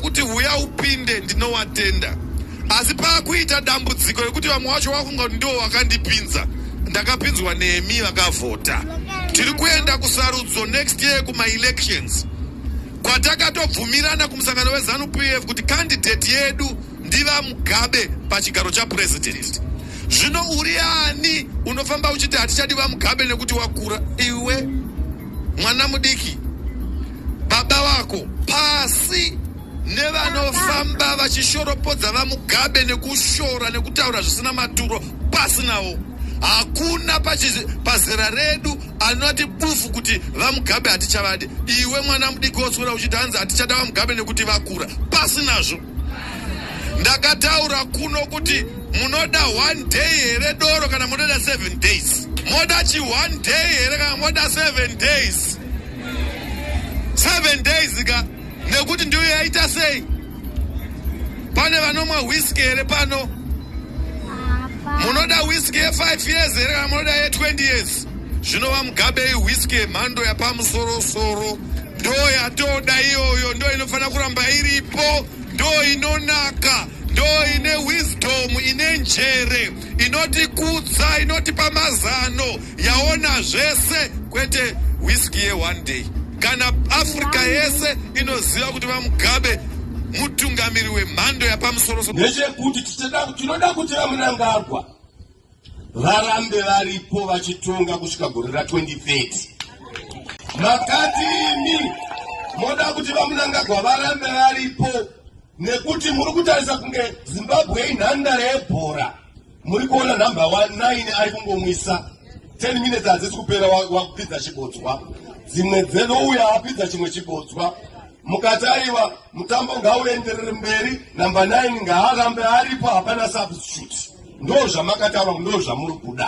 kuti huya upinde ndinowatenda asi pakuita dambudziko rekuti vamwe wacho wakunga kuti ndiwo wakandipinza ndakapinzwa nemi vakavhota tiri kuenda kusarudzo next year kumaelections kwatakatobvumirana kumusangano wezanu p f kuti kandidheti yedu ndivamugabe pachigaro chapurezidendi zvino uri ani unofamba uchiti hatichadi vamugabe nekuti wakura iwe mwana mudiki baba vako pasi nevanofamba vachishoropodza vamugabe nekushora nekutaura zvisina maturo pasi navo hakuna pazera redu anoti bufu kuti vamugabe hatichavadi iwe mwana mudiki woswera uchiti hanzi hatichada vamugabe nekuti vakura pasi nazvo ndakataura kuno kuti munoda one day here doro kana munoda seven days moda chi one day here kana moda seven days seven days ka nekuti ndiyo yaita sei pane vanomwa whisky here pano munoda whisky ye five years here kana munoda ye twenty years Zvino VaMugabe iwhiski yemhando yapamusorosoro. Ndo yatoda iyoyo, ndo inofanira kuramba iripo, ndo inonaka, ndo ine wisdom, ine njere, inotikudza, inotipa mazano, yaona zvese, kwete whisky ye one day. Kana Africa yese inoziva kuti VaMugabe mutungamiri wemhando yapamusorosoro. Ndechekuti tinoda kuti VaMnangagwa varambe varipo vachitonga kusvika gore ra 2030 makati imi moda kuti vamunangagwa varambe varipo nekuti muri kutarisa kunge zimbabwe inhandare yebhora muri kuona number 19 ari kungomwisa 10 minutes hadzisi kupera wakupidza chibodzwa dzimwe dzenouya apidza chimwe chibodzwa mukati aiwa mutambo ngauenderere mberi number 9 ngaarambe aripo hapana substitute Ndoo zvamakataura ndoo zvamuri kuda.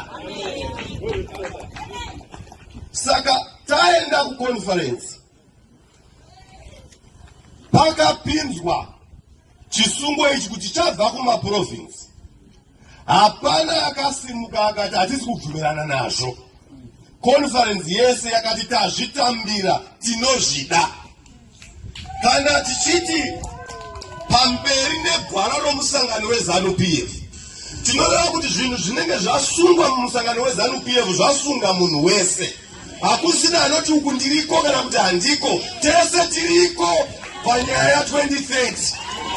Saka taenda kuconference pakapinzwa chisungo ichi kuti chabva kumaprovince hapana akasimuka akati hatisi kubvumirana nazvo conference yese yakati tazvitambira tinozvida Kana tichiti pamberi negwara romusangano wezanu pf tinoreva kuti zvinhu zvinenge zvasungwa mumusangano wezanu pf zvasunga munhu wese hakusina anoti uku ndiriko kana kuti handiko tese tiriko panyaya 2030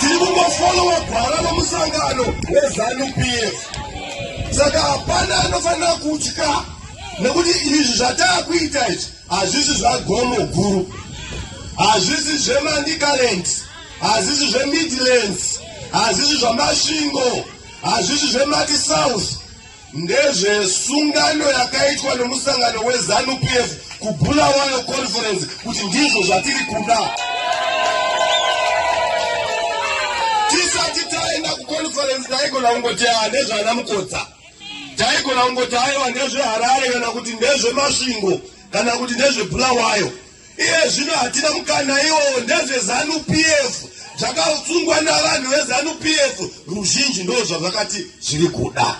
tiri kungofolowa gwara romusangano wezanu pf saka hapana anofanira kutya nekuti izvi zvataakuita izvi Hazvisi zvagomo guru, hazvisi zvemanicaland, hazvisi zvemidlands, hazvisi zvamasvingo, hazvisi zvemati south, ndezvesungano yakaitwa nemusangano wezanu pf kubulawayo conference kuti ndizvo zvatiri kuda. Tisati taenda kuconference taigona kungoti ah, nezvana mukodza Taigona kungoti aiwa ndezveHarare kana kuti ndezveMasvingo kana kuti ndezveBulawayo. Iye zvino hatina mukana iwowo ndezveZanu PF zvakatsungwa navanhu vezanu pf ruzhinji ndo zvazvakati zviri kuda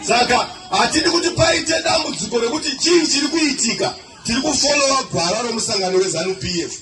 saka hatidi kuti paite dambudziko rekuti chii chiri kuitika tiri kufolowa gwara remusangano wezanu pf